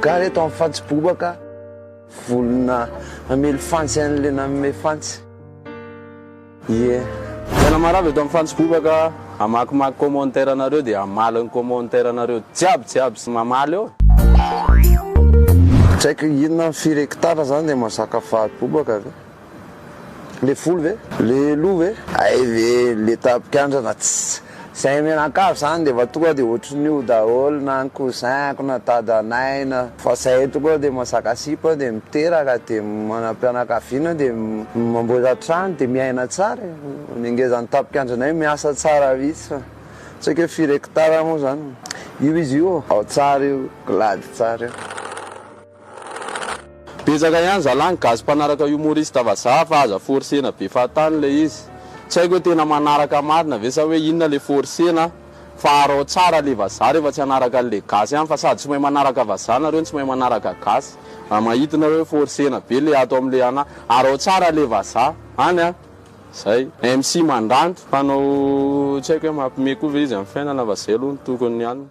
Gaga eto amin'ny fantsy bobaka, volona hamely fantsy an'ilay nanome fantsy. Ie. Tena marary eto amin'ny fantsy bobaka, amakimaky commentaire anareo dia hamaly ny commentaire anareo jiaby jiaby sy mamaly eo. Tsy haiko inona ny firekitana zany dia mazaka faly bobaka ve? Le volo ve? Le loha ve? Hay ve le tapikandrana tss zay mianakavy zany de va tonga de otriny io daholo na ny cousin ko na dadanay na fa zay tonga de mazaka sipa de miteraka de manam-pianakaviana de mamboatra trano de miaina tsara e ny ngezan'ny tapikandranay miasa tsara mihitsy fa tsy haiko hoe firy hectare moa zany io izy io ao tsara io glady tsara io. Betsaka ihany zalah ny gasy mpanaraka humoriste vazaha fa aza forcena be fahatany ilay izy. Tsy haiko hoe tena manaraka marina ve sa hoe inona ilay forcena fa arao tsara ilay vazaha rehefa tsy hanaraka an'ilay gasy ihany fa sady tsy mahay manaraka vazaha nareo no tsy mahay manaraka gasy raha mahita nareo hoe forcena be ilay ato amin'ilay ana arao tsara ilay vazaha any a! Zay. MC Mandranto mpanao tsy haiko hoe mampime koa ve izy amin'ny fiainana fa zay aloha no tokony any.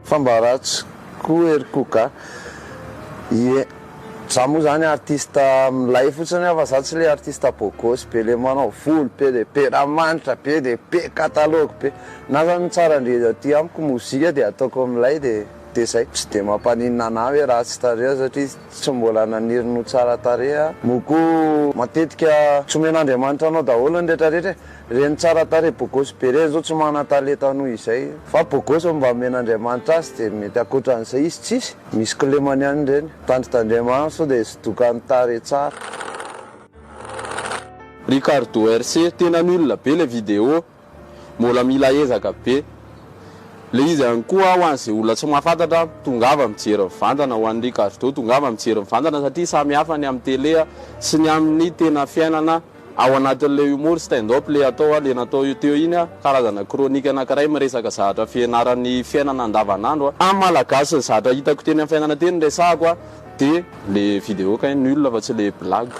Fa mba ratsy koa ery koka. Ie. Za moa zany artiste milay fotsiny aho fa za tsy le artiste beau gosse be le manao volo be le be ranomanitra be le be catalogue be. Na zany tsara ndry aty amiko mozika dia ataoko milay dia dia zay. Tsy dia mampaninona anah hoe ratsy tarehy aho satria tsy mbola naniry ny ho tsara tarehy aho. Moa koa matetika tsy omen'Andriamanitra anao daholo ny retraretra e. Reny tsara tarehy bogosy be reny zao tsy mana talenta noho izay fa bogosy no mba omen'Andriamanitra azy dia mety akoatran'izay izy tsisy, misy kilemany ihany reny, tandrintandriamano sao dia zodokan'ny tarehy tsara. Ricardo RC tena nul be le video, mbola mila ezaka be. Le izy ihany koa ho an'izay olona tsy mahafantatra, tongava mijery mivantana, ho an'i Ricardo tongava mijery mivantana satria samy hafa ny amin'ny tele sy ny amin'ny tena fiainana. Ao anatin'ilay humour stand up le atao a, le natao io teo iny a, karazana chronique anakiray miresaka zahatra fianaran'ny fiainana andavanandro a. Amin'ny Malagasy ny zahatra hitako teny amin'ny fiainana teny resahako a, de le vidéo kay nul fa tsy le blague.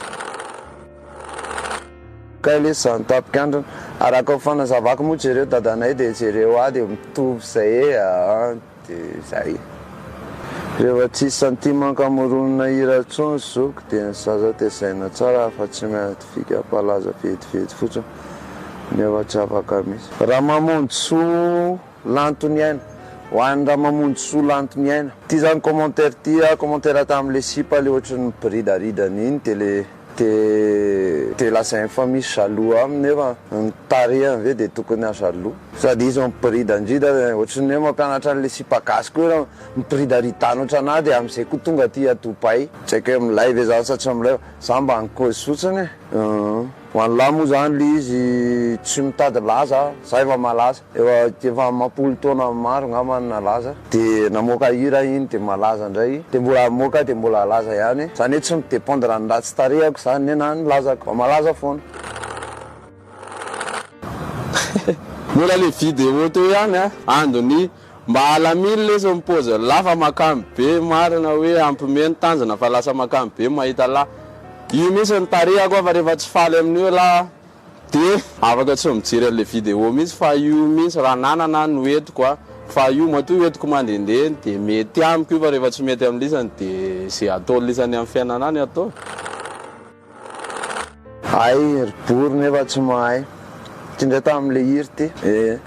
Kay lesy zany tapikandrina. Araka ny fanazavako moa jereo dadanay de jereo ahy de mitovy zay ee aa. Dia izay. Rehefa tsisy centime ankamoronina hira intsony zoky dia ny zaza tezaina tsara fa tsy miady fika mpalaza vetivety fotsiny nefa tsy afaka misy. Ramamonjisoa lanto ny aina. Ho an'i Ramamonjisoa lanto ny aina. Ty zany commentaire ty a commentaire tamin'le sipa le ohatry ny biridaridany iny de le. Dia dia lazainy fa misy jaloux aminy nefa ny tarehiny ve dia tokony ha jaloux. Sady izy miporidanrida ohatry ny hoe mampianatra an'ilay sipa gasy koa ianao miporidaridano ohatry anah dia amin'izay koa tonga aty à Dubaï. Tsy haiko hoe milay ve zany sa tsy milay fa za mba nikozy fotsiny e. Ho an'lah moa zany le izy tsy mitady laza a, za efa malaza. Efa efa amam-polo taona maro ngamba no nalaza de namoaka hira iny de malaza ndray de mbola amoaka de mbola alaza ihany zany hoe tsy mi dependre any ratsy tarehako zany ne na ny lazako fa malaza foana. Mbola le video teo ihany a! Ando ny mba alamino lesy ny pôziny lahy fa makany be marina hoe ampime ny tanjona fa lasa makany be mahita lahy io mintsy ny tarehako aho fa rehefa tsy faly amin'io lahy aho. Dia afaka tsy mijery an'ilay vidéo mihitsy fa io mihitsy raha nanana aho no entiko a! Fa io matoa entiko mandehandeha dia mety amiko io fa rehefa tsy mety amin'ny lisany dia izay ataon'ny lisany amin'ny fiainana ahy no ataoko. Hay ry bory nefa tsy mahay. Ty ndray tam le hira ty. Eeh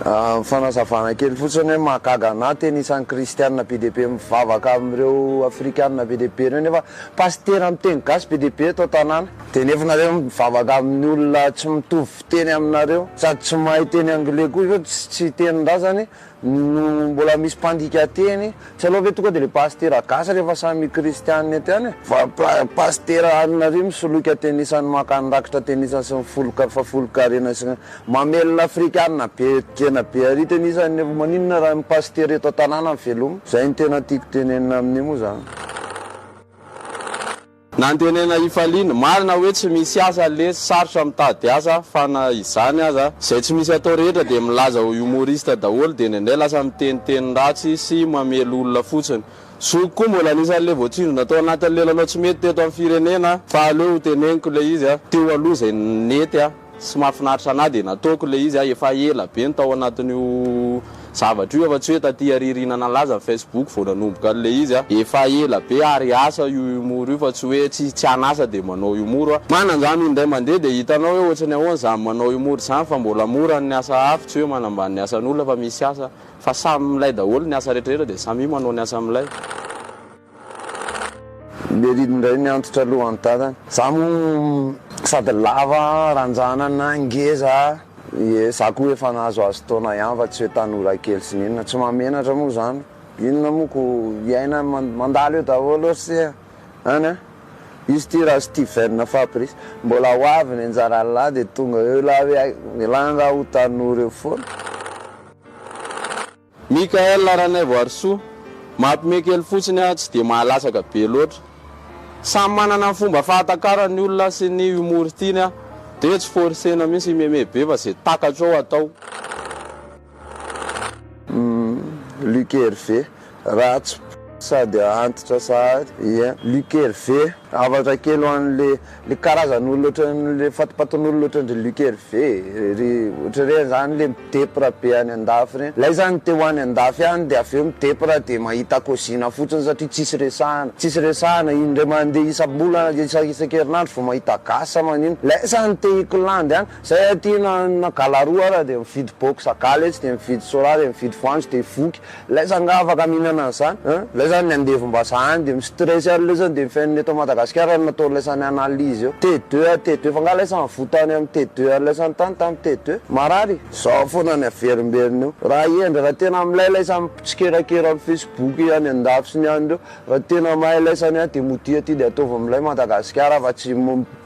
fanazavana kely fotsiny hoe mahagaga anah tena isan'ny kristianina be dia be mivavaka amin'ireo afrikanina be dia be ireo nefa pasitera miteny gasy be dia be eto an-tanàna. Dia nefa nareo mivavaka amin'ny olona tsy mitovy fiteny aminareo sady tsy mahay teny anglais koa zao tsy tsy tenin-drazany no mbola misy mpandika teny tsy aleo ve tonga dia le pasitera gasy rehefa samy kristianina ety any fa pasitera anareo misoloky atenisany maka ny rakitra atenisany sy ny folka folonkarena sy mamelona afrikanina be tena be ary tenisany nefa maninona raha ny pasitera eto an-tanàna no veloma zay no tena tiako tenenina amin'io moa zany. Nantenaina hifaliana. Marina hoe tsy misy asa ny lesy, sarotra mitady asa fa na izany aza, izay tsy misy atao rehetra dia milaza ho humoriste daholo dia indraindray lasa miteny teny ratsy sy mamely olona fotsiny. Zokiko koa mbola anisan'ilay voatsindrona tao anatin'ny lelanao tsy mety teto amin'ny firenena fa aleo ho teneniko ilay izy teo aloha izay nety an. Tsy mahafinaritra anah dia nataoko ilay izy a, efa ela be no tao anatin'io zavatra io aho fa tsy hoe taty ariariana nalaza ny facebook vao nanomboka an'ilay izy a, efa ela be ary asa io humour io fa tsy hoe tsy tsy an'asa dia manao humour a, mananjany olo indray mandeha dia hitanao hoe ohatrany ahoana zany manao humour zany fa mbola mora ny asa hafa tsy hoe manambany ny asan'olona fa misy asa fa samy milay daholo ny asa retraretra dia samia manao ny asa milay. Lery indray ny antitra aloha an tanana. Za moa sady lava ranjanana, ngeza, ie za koa efa nahazoazo taona ihany fa tsy hoe tanora kely sy ny inona. Tsy mahamenatra moa izany. Inona moa ko iaina mandalo eo daholo ry se an an! Izy ity ra Steven Fabrice mbola ho avy ny anjaran'ny lahy dia tonga eo lahy hoe hay, ialahy angaha ho tanora eo foana? Michaël Ranaivoarisoa, Mampime kely fotsiny aho tsy dia mahalatsaka be loatra. Samy manana ny fomba fahatakarany ny olona sy ny humour tiany aho dia hoe tsy forcer-na mihitsy himeme be fa izay takatro ao atao. Luc Hervé, Ratsy sady antitra sahady. Luc Hervé. Hafatra kely ho an le le karazan olona otran le fatipatin olona otran dry Luc Hervé ry otry reny zany le midepra be any andafy reny lay zany te ho any andafy any de avy eo midepra de mahita kozina fotsiny satria tsisy resahana tsisy resahana indray mande isam bolana isa isak erinandro vao mahita gasy sa manino lay zany te hikolandy any zay aty na na galaroa ara de mividy box gala etsy de mividy sora de mividy voanjo de voky Ilay zanga afaka mihinana an'izany an! Ilay zany ny andevombazaha any dia mi-stress ary ilay zany dia ny fiainana eto Madagasikara no nataon'ilay zany analyse eo. T2 an T2 fa nga ilay zany voa tany amin'ny T2 ary ilay zany tany tamin'ny T2? Marary? Zao foana ny averimberiny eo. Raha hendry raha tena milay ilay zany mpitsikerakera amin'ny Facebook any andafy sy ny any ireo Raha tena mahay ilay sania dia modia aty dia ataovy milay Madagasikara fa tsy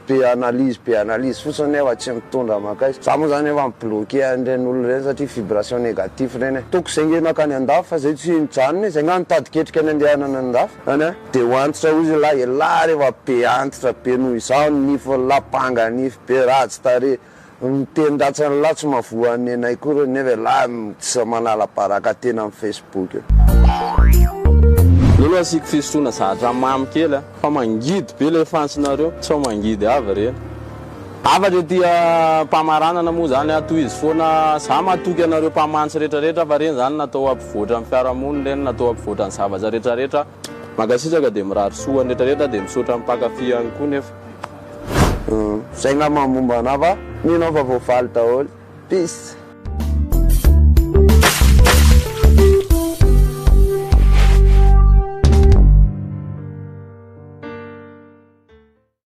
be analyse be analyse fotsiny nefa tsy mitondra makaiza. Za moa zany efa mi bloquer an'ireny olona ireny satria vibration négatif ireny e. Ataoko izay nge nankany andafy fa izay tsy nijanona e, izay nga nitady ketrika nandehanana any andafy zany a. Dia ho antitra hozy lahy e, lahy rehefa be antitra be noho izaho ny nifiny lahy, banga nify be, ratsy tarehy, Miteny ratsy any lahy tsy mahavoa any nenay koa reo nefa elah tsy manala baraka tena am Facebook io. Lolo asiako fisotroana zatra mamy kely a! Fa mangidy be ilay fantsinareo sao mangidy avy re. Hafatra ity ampamaranana moa zany a! Tohizo foana za matoky anareo mpamantsy retraretra fa reny zany natao hampivoatra ny fiarahamonina reny natao hampivoatra ny zavatra retraretra Mankasitraka dia mirary soa ho an'ny rehetra rehetra dia misaotra ny mpankafy ihany koa nefa. Zay ngamba ny momba anah fa nenao fa voavaly daholo. Peace.